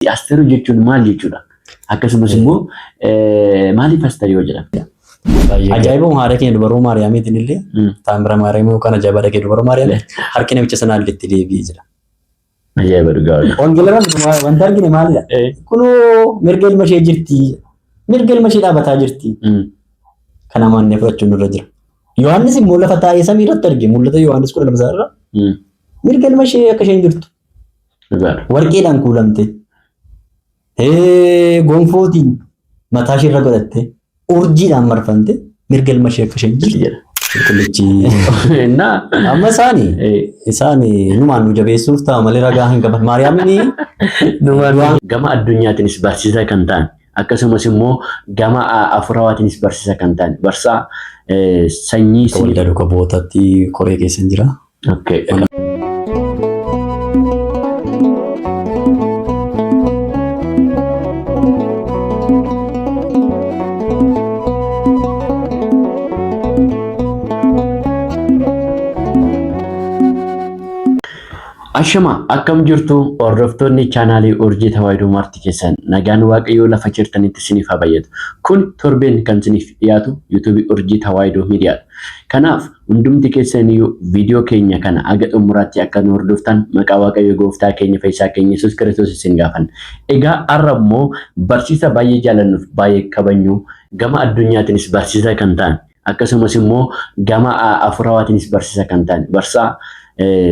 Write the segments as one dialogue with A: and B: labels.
A: Asteeruu jechuun maal jechuudha? Akkasumas immoo maaliif Asteer yoo jedhame? Ajaa'ibuma
B: haadha keenya dubaroo Maariyaamiitiin illee Mm. taamira Maariyaamii yookaan ajaa'ibaa dhagee dubaroo Maariyaamii harki namicha sanaa illee itti deebi'ee jira. Ajaa'iba
A: dhugaa wajjin. Wangeelaraan wanta
B: argine maalidha? Eh. Kunoo mirga ilma ishee jirti. Mirga ilma ishee dhaabataa jirti. Mm. Kana maannee fudhachuun irra jira. Yohaannis immoo lafa taa'ee samii irratti arge. Mul'ata Yohaannis kudha lama isaa irra Mm. mirga ilma ishee akka isheen jirtu. Dhugaadha. Warqeedhaan kuulamte. Ee, Gonfootiin mataa ishee irra godhatte. Urjiidhaan marfamte. Mirga ilma ishee akka isheen jirtu jedha. Qulqullichi. Innaa. Amma isaani eh, isaani numaan nu jabeessuuf ta'a malee ragaa hin qaban. Maariyaamini Du'aan-
A: Gama addunyaatiinis barsiisaa kan ta'an akkasumas immoo gama a- hafuurawaatiinis barsiisaa kan ta'an barsaa eh, sanyii Akka waldaa duuka
B: bu'ootaatti koree keessa hin jira. Okay.
A: Ashama akkam jirtu hordoftoonni chaanaalii Urjii Tawaahidoo Maartii keessan nagaan Waaqayyoo lafa jirtanitti isiniif haa bayyatu. Kun torbeen kan isiniif dhiyaatu yuutuubii Urjii Tawaahidoo Miidiyaadha. Kanaaf Hundumti keessaniyyuu viidiyoo keenya kana haga xumuraatti akka nu hordoftan maqaa Waaqayyo Gooftaa keenya Fayyisaa keenya Yesuus Kiristoos isin gaafanna. Egaa har'a immoo barsiisa baay'ee jaalannuuf baay'ee kabajnu gama addunyaatiinis barsiisa kan ta'an akkasumas immoo gama hafuurawaatiinis barsiisa kan ta'an barsaa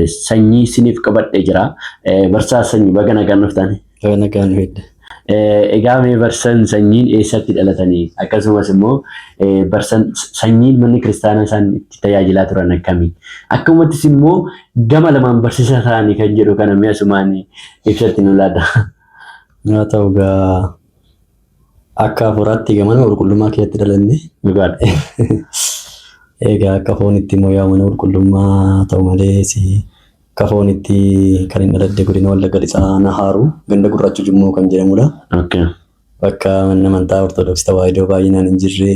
A: sanyii isiniif qabadhee jira. Barsaa sanyii baga nagaan dhuftan. Kana kan
B: fedde. Egaa
A: mee barsan sanyiin eessatti dhalatanii akkasumas immoo barsan sanyiin manni kiristaanaa isaan itti tajaajilaa turan akkami akkumattis immoo gama lamaan barsiisa ta'anii kan jedhu kana mee asumaan ibsatti nu laata. Haa
B: ta'u gaa akka hafuuraatti egaa mana qulqullummaa keessatti dhalanne. Dhugaadha. Egaa akka foonitti immoo yaa mana qulqullummaa ta'u malee si Akka foonitti kan hin dhaladde godina Wallagga Lixaa aanaa Haaruu ganda Gurraacha Jummoo kan jedhamudha. Okay. Bakka manni amantaa Ortodoksii Tawaahidoo baay'inaan hin jirre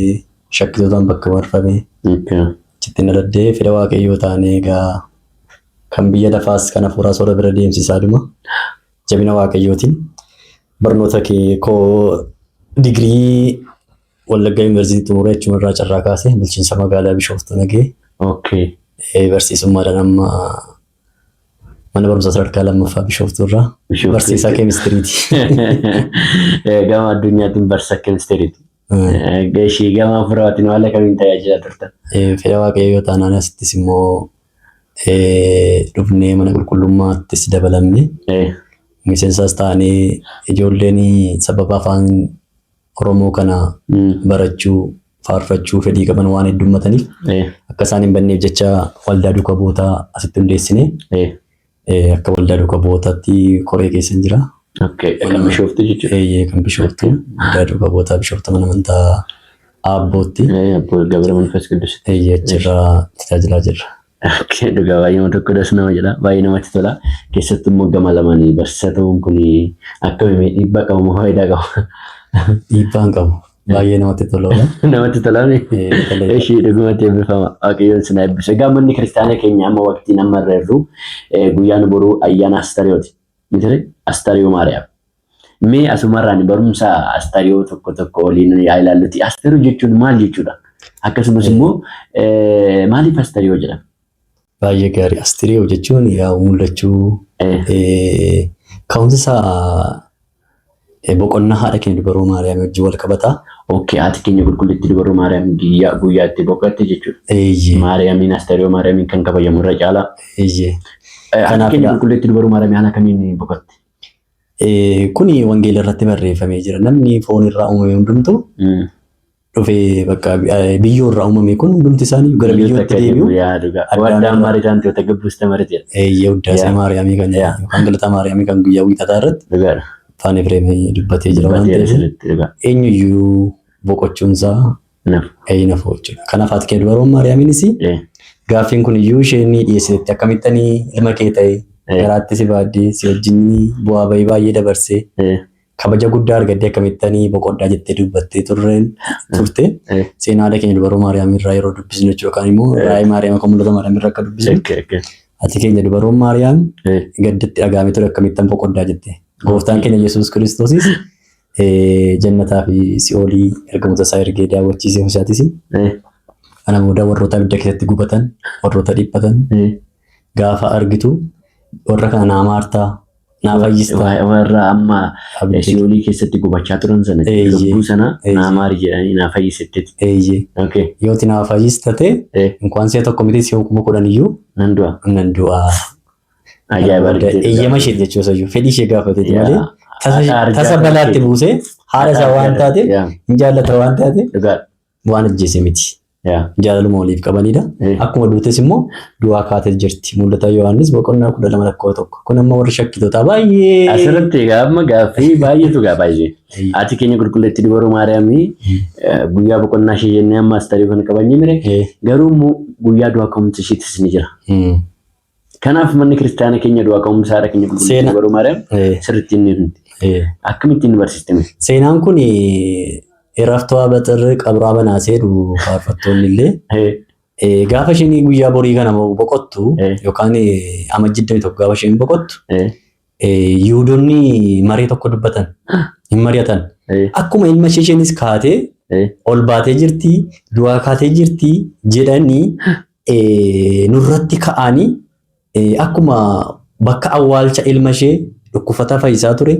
B: shakkitootaan bakka marfame. Okay. Achitti hin dhaladde fedha waaqayyoo taanee egaa kan biyya lafaas kan hafuuraas warra bira deemsisaa dhuma. Jabina waaqayyootiin barnoota kee koo digirii Wallaggaa Yuunivarsiitii xumuree achuma irraa carraa kaasee bulchiinsa magaalaa Bishooftuu nagee Okay. eh, barsiisummaadhaan amma mana barumsaa sadarkaa lammaffaa Bishooftuu irraa Bishooftuu. barsiisaa keemistiriiti. Eh,
A: Gama addunyaatiin barsa keemistiriiti. Eh, Ishii gama furaatiin haala kamiin tajaajila turta? Eh, Fedha waaqayyoo yoo
B: taanaan asittis immoo eh, dhufnee mana qulqullummaattis dabalamne Eh, miseensaas taanee ijoolleen sababa afaan Oromoo kana barachuu, faarfachuu fedhii qaban waan heddummataniif Ee. akka isaan hin banneef jecha waldaa duuka bu'ootaa asitti hundeessine. Ee. Eh, Akka waldaa duuka bu'ootaatti koree keessa hin jira. Okay. Kan
A: bishooftu jechuudha. Eeyyee kan bishooftu
B: waldaa duuka bu'ootaa bishooftu mana amantaa aabbootti. Ee, Abboo Gabra
A: Manfas Qiddusitti. Eeyyee achirraa
B: tajaajilaa jirra. Okay, dhugaa
A: baay'ee tokko das nama jedha baay'ee namatti tola keessattuu immoo gama lamaanii barsiisaa ta'uun kun akkamiin dhiibbaa qabu moo faayidaa qaba Dhiibbaa hin
B: qabu. Baay'ee namatti toloodha. namatti tolaame
A: Eh, tolee. ishii dhugumatti eebbifama waaqayyoon sin eebbisu egaa manni kiristaanaa keenya amma waqtiin amma irra jirru eh, guyyaan boruu ayyaana astariyooti mitire astariyoo maariyaam Mee asumarraan barumsa astariyoo tokko tokko waliin yaa ilaalluti. Astariyoo jechuun maal jechuudha? Akkasumas immoo eh, maaliif astariyoo jedhama? Baay'ee gaarii.
B: Astiriyoo jechuun yaa mul'achuu Eh, eh, ka'umsi isaa eh, boqonnaa haadha keenya dubaroo Maariyaam wajjin wal qabata. Okkee haati keenya
A: qulqullittii dubaroo Maariyaam guyyaa guyyaa itti boqotte jechuudha. Eeyyee. Maariyaamiin astariyoo Maariyaamiin kan kabajamu irra caalaa. Eeyyee. Eh, Haati Kanaaf keenya ila- qulqullittii dubaroo Maariyaam haala kamiin boqotte?
B: Kuni wangeela irratti barreeffamee jira. Namni foon irraa uumame hundumtu dhufee bakka biyyoo irraa uumame kun hundumti isaanii gara biyyootti deebi'u. Addaam
A: Maaritaan Toota Gabbuusta Mariteera. Eeyyee Uddaasee Maariyaamii
B: kan jedhamu yookaan Galata Maariyaamii kan guyyaa wiixataa irratti Dhugaadha. Afaan Efreemii dubbatee jira waan Dubbatee ta'eef sirriitti dhugaa. eenyuyyuu boqochuunsaa Inaf. Ee inafoo jechuudha. Kanaaf haati kee dubaroon Maariyaamiinis Ee. gaaffiin kun iyyuu isheen ni dhiyeessiteetti akkamittan ilma kee ta'e Ee. garaatti si baaddee si wajjin bu'aa bahii baay'ee dabarsee Ee. kabaja guddaa argattee akkamittan boqodhaa jettee dubbattee turreen turte Ee. seenaa haadha keenya dubaroo Maariyaamii irraa yeroo dubbisnu jechuudha yookaan immoo Ee. raayii Maariyaam kan mul'ata Maariyaam irraa akka dubbisnu Ekke ekke. haati keenya dubaroon Maariyaam Ee. gaddatti dhagaamee ture akkamittan boqoddaa jette. Gooftaan keenya Yesuus Kiristoosis Jannataa fi si'oolii ergamoota isaa ergee daawwachiise Musaatis. Kana booda warroota abidda keessatti gubatan, warroota dhiphatan gaafa argitu warra kana naa maartaa, naa fayyista. Warra amma
A: si'oolii keessatti gubachaa turan sana lubbuu sana naa maari jedhanii naa fayyisitteeti. Eeyyee. Yooti naa
B: fayyistate inkwaan si'a tokko miti si'a kuma kudhan iyyuu nan du'a. Ajaa'iba
A: Booda argiteetti eeyyama gaafate. isheeti
B: jechuu isayyuu fedhii ishee gaafateeti Yaa. malee tasa Haadha arjaa tasa kana balaatti kee. buusee haadha isaa Haadha waan arjaa taateef kana. Yaa. hin jaallata waan taateef Dhugaa. waan ajjeese miti. Yaa. Jaalaluma waliif qabanidha. Eh. Akkuma duutes immoo du'aa kaatee jirti. Mul'ata Yohaannis boqonnaa kudha lama lakkoo tokko. Kun amma warri shakkitootaa baay'ee. Asirratti egaa amma
A: gaaffii baay'eetu gaa baay'ee. Haati keenya qulqulleetti dubaroo Maariyaamii eh, guyyaa boqonnaa ishee jennee amma astarii kan qabannee mire Eh. garuu immoo guyyaa du'aa ka'umsa isheetis ni jira. Hmm. Kanaaf manni kiristaana keenya du'aa ka'umsa haadha keenya qulqulluu Seena. baruu maariyaam Eh, sirriitti hin himti. eh. Akkamitti hin barsiiste mee? Seenaan kun
B: irraftuu haaba xirri qabraa banaa seedu faarfattoonni illee Eh, eh, gaafa isheen guyyaa borii kana boqottu Eh. yookaan eh, amajjii 21 gaafa isheen boqottu eh, Eh, Yihuudonni maree tokko dubbatan hin mari'atan. Eh, Akkuma ilma ishee isheenis kaatee eh, ol baatee jirti, du'aa kaatee jirti jedhanii eh, nurratti ka'anii eh, akkuma bakka awwaalcha ilma ishee dhukkufataa fayyisaa ture,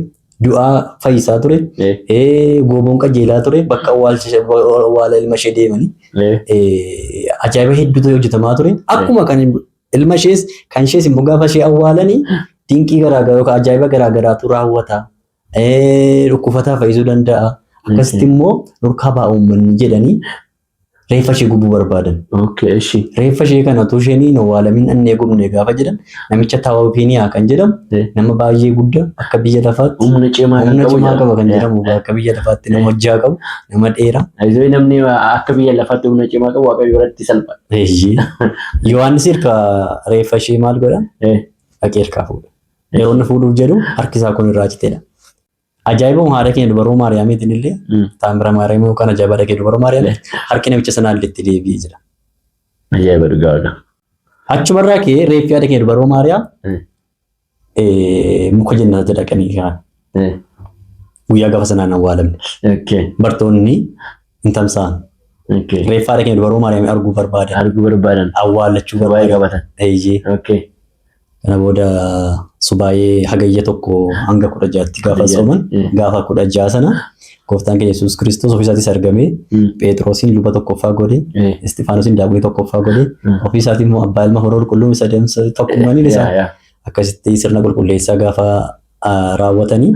B: du'aa fayyisaa ture, eh, eh, gooboon qajeelaa ture, bakka awwaalcha ishee- awwaala ilma ishee deemanii eh. eh, ajaa'iba hedduutu hojjetamaa ture. Akkuma kan Ilma ishees kan ishees immoo gaafa ishee awwaalanii dinqii garaagaraa yookaan ajaa'iba garaagaraatu raawwata. Eh, Dhukkufataa fayyisuu danda'a. Akkasitti immoo nurkaa ba'a uummanni jedhanii reeffa ishee gubuu barbaadan. Okay, ishi. Reeffa ishee kana utuu isheen hin awwaalamin dhannee gubne gaafa jedhan namicha Taawufiiniyaa kan jedhamu Eh. nama baay'ee guddaa akka biyya lafaatti Humna cimaa kan humna qabu
A: cimaa jedhama. qaba kan jedhamu
B: akka biyya lafaatti nama hojjaa qabu Nama dheeraa. Ayizoo namni
A: akka biyya lafaatti humna cimaa qabu waaqayyo biratti salpha. Eeyyee.
B: Yohaannis irka reeffa ishee maal godha? Eh, Dhaqee irkaa fuudha. Yeroo inni fuudhuuf jedhu harki isaa kun irraa citeedha. Ajaa'ibuma haadha keenya dubaroo Maariyaamiitiin illee mm, taamira Maariyaamii yookaan ajaa'iba dhaqee dubaroo Maariyaamii harki namicha sanaa illee itti deebi'ee jira. Ajaa'iba
A: dhugaa dhugaa. Achumarraa
B: ka'ee reeffi haadha keenya dubaroo Maariyaam Mm. Eh, Muka jennaatti dhaqanii kaa. Eh, Guyyaa gafa sanaan awwaalamne. okay, Bartoonni hin tamsa'an. okay. Reeffaa dhaqee dubaroo Maariyaamii arguu barbaadan. Arguu barbaadan. Awwaallachuu Waa'ee barbaadan. qabatan. Eeyyee. Okay. Kana booda subaayee hagayya tokko hanga kudha jaatti gaafa Hagayya, sooman eh. gaafa kudha ja'a sana Gooftaan keenya Yesuus Kiristoos ofiisaatis argamee Mm. Pheexroosiin luba tokkoffaa godhe, Eh. Isxifaanosiin daaqonii tokkoffaa godhe, Mm. ofiisaatii immoo abbaa ilma hora qulqulluu isa deemsa tokkummaan isaa Yaa, yaa. akkasitti sirna qulqulleessaa gaafa ah, raawwatanii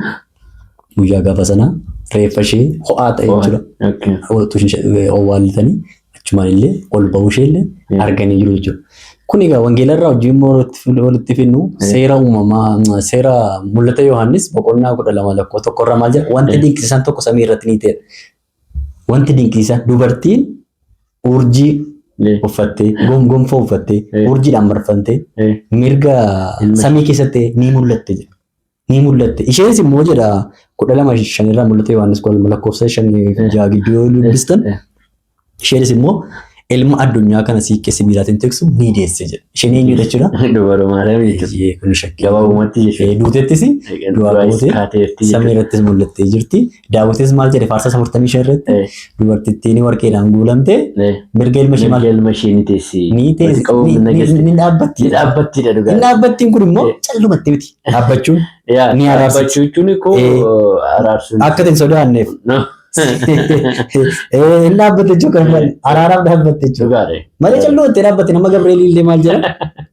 B: guyyaa gaafa sana reeffa ishee ho'aa ta'e Ho'aa. jechuudha. Okay. Ho'aatu ishee- eh, owwaallatanii achumaan illee ol ba'uu ishee illee Mm. arganii jiru jechuudha. Kun egaa wangeela irraa hojii immoo walitti fin- walitti finnu seera uumamaa seera mul'ata Yohaannis boqonnaa kudha lama lakkoo tokko irraa maal jedha wanti Mm. dinqisiisaan tokko samii irratti ni ta'e. Wanti dinqisiisaan dubartiin urjii Eh, uffattee gom- gonfoo uffattee Eh. urjiidhaan marfamtee eh, mirga Ilma- samii keessatti ni mul'atte jedha. ni mul'atte. Isheenis immoo jedha kudha lama shan irraa mul'ate Yohaannis kudha lama lakkoofsa shan fi ja'a gidduu yoo dubbistan Eh. isheenis immoo ilma addunyaa kana siiqqee sibiilaatiin tiksu ni deesse jedha. Isheen eenyu jechuudha? Dubara Maariyaam jechuudha.
A: Eeyyee, kun shakkii. Gabaabumatti
B: jechuudha. Eh,
A: Duutettis
B: du'aa Du'aayis bootee kaateerti samii jechuudha. irrattis mul'attee jirti. Daawitis maal jedhe faarsaa 45 irratti Eh, dubartittiin warqeedhaan guulamte eh, mirga ilma ishee maal mirga ilma ishee ni teessi.
A: ni Walitti teessi qabuun ni-
B: na ni- geessi. ni dhaabbatti. Ni dhaabbattiidha Inni dhugaa.
A: dhaabbattiin kun immoo
B: Eh. callumatti miti dhaabbachuun Yaa, ni araarsa. dhaabbachuu jechuun koo Eh.
A: araarsuun. akka hin sodaanneef.
B: No. Eh, Inni dhaabbatte jechuun kan araaraaf dhaabbatte jechuudha. Dhugaadha. Malee calloo itti dhaabbate nama Gabreelii illee maal jedha?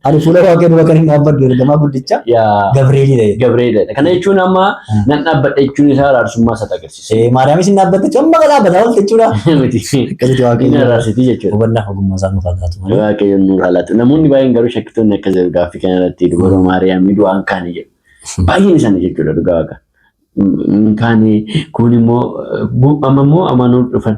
B: Ani fuula waaqayyoo dura kan hin dhaabbadhu ergamaa guddicha Yaa. Gabreelii dha. jedhe. Gabreedha. Kana
A: jechuun amma Hmm. nan dhaabbadha jechuun isaa araarsummaa isaa agarsiisa. Eh, Maariyaamis hin dhaabbatte jechuun
B: amma dhaabbata oolta jechuudha. Miti. Akkasitti Inni
A: waaqayyo araarsitii jechuudha. hubannaa ogummaa isaa nuuf haa
B: laatu malee. Waaqayyoon nu haalatu.
A: Namoonni baay'een garuu shakkitoonni akka jiru gaaffii kana irratti dubaroo Maariyaamii du'aan kaanii jedhu. Baay'een isaanii jechuudha dhugaa waaqa. Hin kaanii kun immoo gu- amma immoo amanuu dhufan.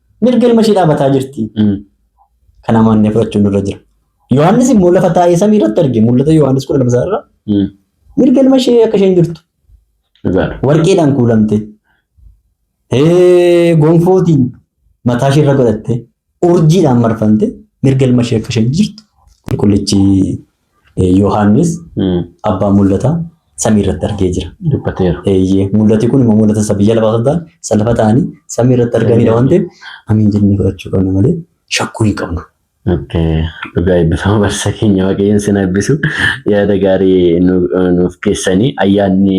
B: Mirga ilma ishee dhaabataa jirti. Mm. Kana amannee fudhachuun irra jira. Yohaannis immoo lafa taa'ee samii irratti arge mul'ata Yohaannis kudha lama irra Mm. mirga ilma ishee akka isheen jirtu Dhugaadha. warqeedhaan kuulamte ee, gonfootiin mataa ishee irra godhatte urjiidhaan marfamte mirga ilma ishee akka isheen jirtu qulqullichi Yohaannis abbaa mul'ataa samii irratti argee jira. Dubbateera. Eeyyee mul'ati kun immoo mul'ata isa biyya lafaa osoo hin taane isa lafa ta'anii samii irratti arganidha waan ta'eef amiin jennee fudhachuu qabna malee shakkuu hin qabnu.
A: Dhugaa eebbifama barsa keenya waaqayyoon sin eebbisu yaada gaarii nuuf keessanii ayyaanni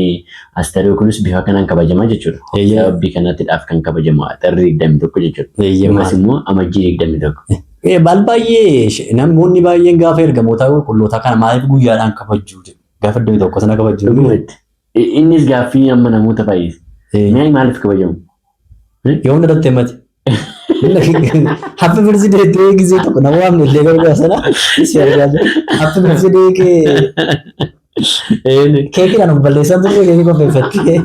A: astariyoo kunis bifa kanaan kabajamaa jechuudha. Eeyyee. Sababii kanattidhaaf kan kabajamu axarri 21 jechuudha. Eeyyee. Ammas immoo amajjii 21. Eh, Baal baay'ee
B: sh- namoonni baay'een gaafa ergamoota qulqullootaa kana maaliif guyyaadhaan kabajjuu jedhu. Gaafa iddoo tokko sana kabajjuu. Dhugumatti. I- Innis
A: gaaffii amma namoota baay'ees. Eh, Mee maaliif kabajamu? Yoo
B: hunda irratti himate. Happy birthday to you gisee tokko nama waamne illee gargaara sana. Si argaa jira. Happy birthday kee Ee, keekiidhaan of balleessaa turre keekii qopheeffattee.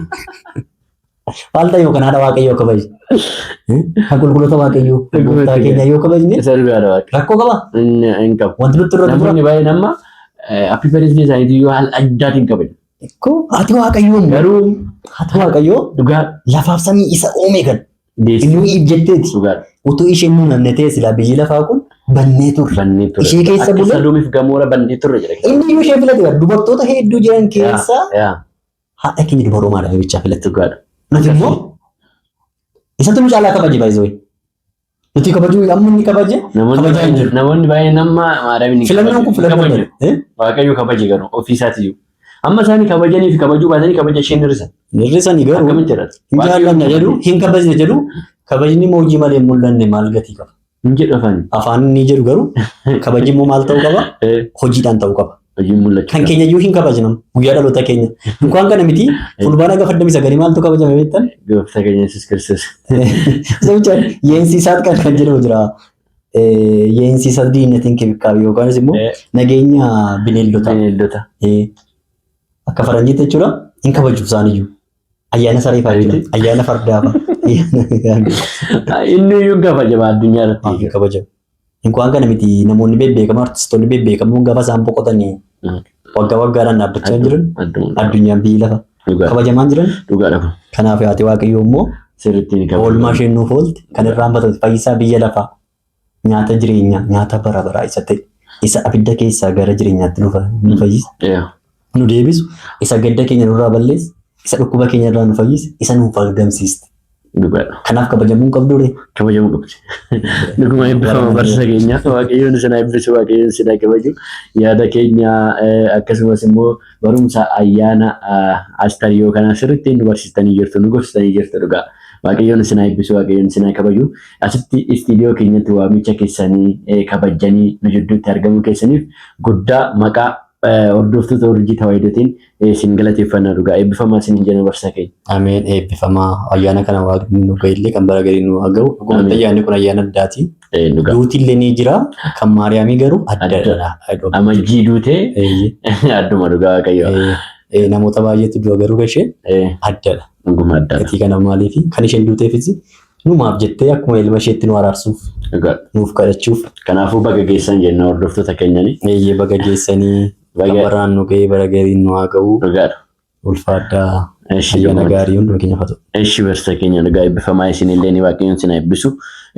B: Waaltaa yoo kanaadha waaqayyoo kabajne. Kan qulqulloota waaqayyoo kan gooftaa keenya yoo kabajne Isa dhugaadha waaqni. rakkoo qaba. Inni hin qabu. Wanti
A: nutti irra jira. Namoonni baay'een
B: amma
A: appii fedhiisni isaaniitii yoo haala addaatiin kabaju. Ko ati
B: waaqayyoo immoo Garuu ati waaqayyoo dhugaa lafaaf samii isa uume kan deessi inni iif jetteeti. dhugaadha. Utuu isheen nu namne ta'e silaa biyyi lafaa kun bannee turre. Bannee ture. Ishee keessa Akka bulee- saluumiif gamoora bannee
A: ture jedha. Inni iyyuu ishee filate bara
B: dubartoota hedduu jiran keessaa Yaa. Haadha keenya dubaroo maadha bichaa filatte. Dhugaadha. Nuti immoo isatti nu caalaa kabaje baay'ee Nuti kabajuu amma inni kabaje kabajaa hin jiru. Namoonni
A: baay'een amma maadamiin hin Filannoon kun kabaju. filannoo
B: Kabaju. dha. Waaqayyo kabaje
A: garuu ofiisaati jiru. Amma isaanii kabajanii fi kabajuu baatanii kabaja isheen hir'isan. Nirrisanii garuu Akkamitti
B: jedhata? hin jaallanne jedhu hin kabajne jedhu kabajni immoo hojii malee hin mul'anne maal gatii qaba. Hin jedhu afaan.
A: Afaan ni jedhu garuu
B: kabajni immoo maal ta'uu qaba? Eh, Hojiidhaan ta'uu qaba. Hojiin mul'achuu Kan qaba. keenya
A: iyyuu hin kabajnu
B: guyyaa dhaloota keenya. Dukaan kana miti fulbaana gafa digdamii sagalii maaltu kabajame beektan? Gooftaa keenya Yesuus
A: Kiristoos. Sebicha
B: yeensiisaat kan kan jedhamu jira. Eh, Yeensiisa diinatiin kibikaabi yookaanis immoo Eh. nageenya bineeldotaa. Bineeldota. Eh, Akka faranjiitti jechuudha hin kabaju isaaniyyuu. Ayyaana saree fa'aa jechuudha. Ayyaana fardaa fa'aa.
A: Inni iyyuu hin kabajamu addunyaa Hin irratti. kabajamu.
B: Inkuwaan kana miti namoonni bebbeekamoo artistoonni bebbeekamoo gaafa isaan boqotanii waggaa waggaadhaan dhaabbachaa hin jiran Addunyaa. addunyaan biyyi lafa Dhugaa. kabajamaa hin jiran Dhugaadha kun. kanaaf yaate waaqayyoo immoo Sirriitti ni oolmaa kabajamu. isheen nuuf oolte kan irraanfatame fayyisaa biyya lafaa nyaata jireenyaa, nyaata bara baraa isa ta'e, isa abidda keessaa gara jireenyaatti nu fa- nu fayyisa, Yeah. nu deebisu, isa gadda keenya nurraa balleessa, isa dhukkuba keenya irraa nu fayyisa, isa nu argamsiiste. Dhugaadha. Kanaaf kabajamuun qabduure. Kabajamuu qabdi.
A: Dhuguma eebbifama barsiisa keenyaa. Waaqayyoon isin haa eebbisu, waaqayyoon isin haa kabaju. Yaada keenya eh, akkasumas immoo Barumsa ayyaana Astariyoo kana sirriitti nu barsiistanii jirtu, nu gorsitanii jirtu dhugaa. Waaqayyoon isin haa eebbisu, Waaqayyoon isin haa kabaju. Asitti istiidiyoo keenyatti waamicha keessanii eh, kabajjanii nu jidduutti argamuu keessaniif guddaa maqaa eh, hordoftoota urjii tawaayidotiin eh, isin galateeffanna dhugaa. Eebbifamaa isin jenna barsiisaa keenya. Ameen eebbifamaa
B: ayyaana kana waaqni nu ga'ellee kan bara garii nu haa ga'u. Dhugumatti Ameen. ayyaanni kun ayyaana addaati. Eh, dhugaa. Duuti illee ni jira. Kan Maariyaamii garuu addadha. Amajjii duutee
A: Eeyyee. adduma dhugaa waaqayyo. Eeyyee. Eh, Namoota
B: baay'eetu du'a garuu kan ishee Eh, addadha. Dhuguma adda. Gatii
A: kana maaliif kan
B: isheen duuteefis numaaf jettee akkuma ilma isheetti nu araarsuuf Dhugaa. nuuf kadhachuuf Kanaafuu baga geessan
A: jenna hordoftoota keenyanii. eeyyee baga geessanii
B: Baga- kan baraan nu ga'ee bara gariin nu haa ga'u. Dhugaadha. Ulfaadhaa Eshi ayyaana gammad. gaarii hunduma keenya fatu. Eshi barsiisa keenya
A: dhugaa eebbifamaa isinillee ni waaqayyoon sin eebbisu.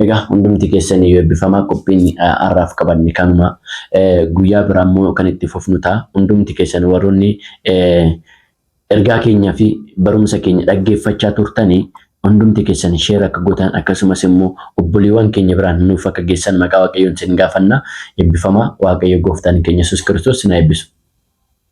A: Egaa hundumti keessan iyyuu eebbifamaa qophiin eh, har'aaf qabanne kanuma Eh, guyyaa biraa immoo kan itti fufnu ta'a. Hundumti keessan warroonni eh, ergaa keenyaa fi barumsa keenya dhaggeeffachaa turtanii hundumti keessan sheer akka gootan akkasumas immoo obboleewwan keenya biraan nuuf akka geessan maqaa waaqayyoon sin gaafanna. Eebbifamaa waaqayyo gooftaan keenya Yesuus Kiristoos sin haa eebbisu.